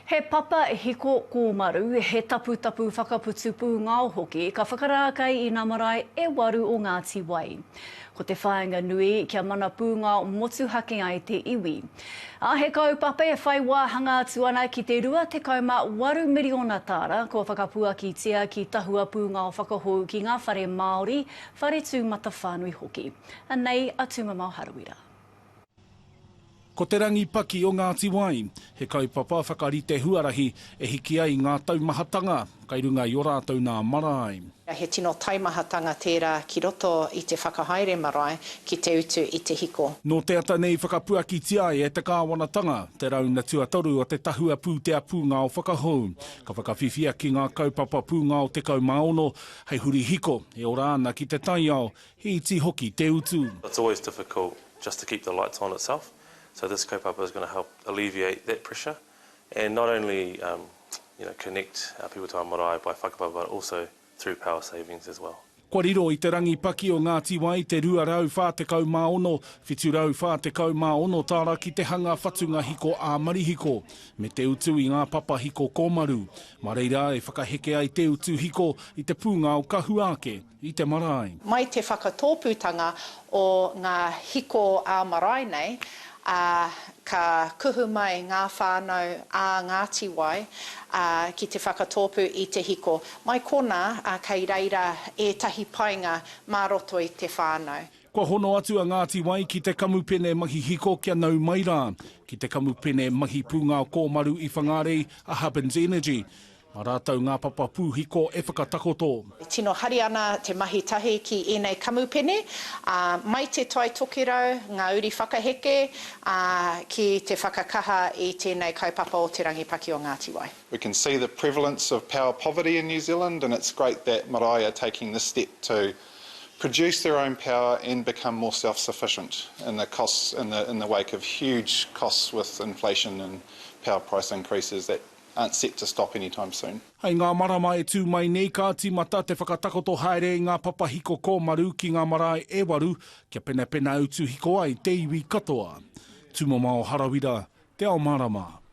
He papa hiko kōmaru, he taputapu whakaputu pūngao hoki ka whakarākei i nā marae e waru o Ngāti Wai. Ko te whāinga nui, kia mana pūngao motuhake ai te iwi. Ā, he kaupapa e whai wāhanga atu ana ki te 28 miriona tāra kua whakapuakitia ki tahua pūngao whakahou ki ngā whare Māori, whare tūmatawhānui hoki. Anei a Tūmamao Harawira. Ko Te Rangi Paki o Ngāti Wai, he kaupapa whakarite huarahi e hiki ai ngā taumahatanga kai runga i o rātou nā marae. He tino taimahatanga tērā ki roto i te whakahaere marae ki te utu i te hiko. Nō te ata nei whakapuakitia ai e te kāwanatanga te rauna tuatoru o te tahua pūtea pūngao whakahou. Ka whakawhiwhia ki ngā kaupapa pūngao 16 hei huri hiko e ora ana ki te taiao, he iti hoki te utu. It's always difficult just to keep the lights on itself, so this kaupapa is going to help alleviate that pressure and not only um, you know, connect uh, people to our marae by whakapapa but also through power savings as well. Kua riro i te rangi paki o Ngāti Wai te 246, 746 tāra ki te hanga whatunga hiko ā-marihiko, me te utu i ngā papa hiko kōmaru. Mā reira e whakaheke ai te utu hiko i te pūngao ka hua ake. i te marae. Mai te whakatōpūtanga o ngā hiko ā-marae nei, ā, ka kuhu mai ngā whānau ā Ngāti Wai, ā, ki te whakatōpū i te hiko. Mai konā, ā, kei reira ētahi painga mā roto i te whānau. Kua hono atu a Ngāti Wai ki te kamupene mahi hiko kia nau mai rā, ki te kamupene mahi pūngao kōmaru i Whangārei, a Hubbins Energy. Mā rātou ngā papa pūhiko e whakatakoto. E tino hari ana te mahi tahi ki ēnei kamupene, ā, mai Te Tai Tokerau ngā uri whakaheke, ā, ki te whakakaha i tēnei kaupapa o Te Rangi Paki o Ngāti Wai. We can see the prevalence of power poverty in New Zealand and it's great that marae are taking this step to produce their own power and become more self-sufficient in the costs in the in the wake of huge costs with inflation and power price increases that aren't set to stop anytime soon. Hei ngā marama e tū mai nei ka tīmata te whakatakoto haere i ngā papa hiko kōmaru ki ngā marae e waru kia penapena utu hiko ai te iwi katoa. Tūmamao Harawira, Te Ao Mārama.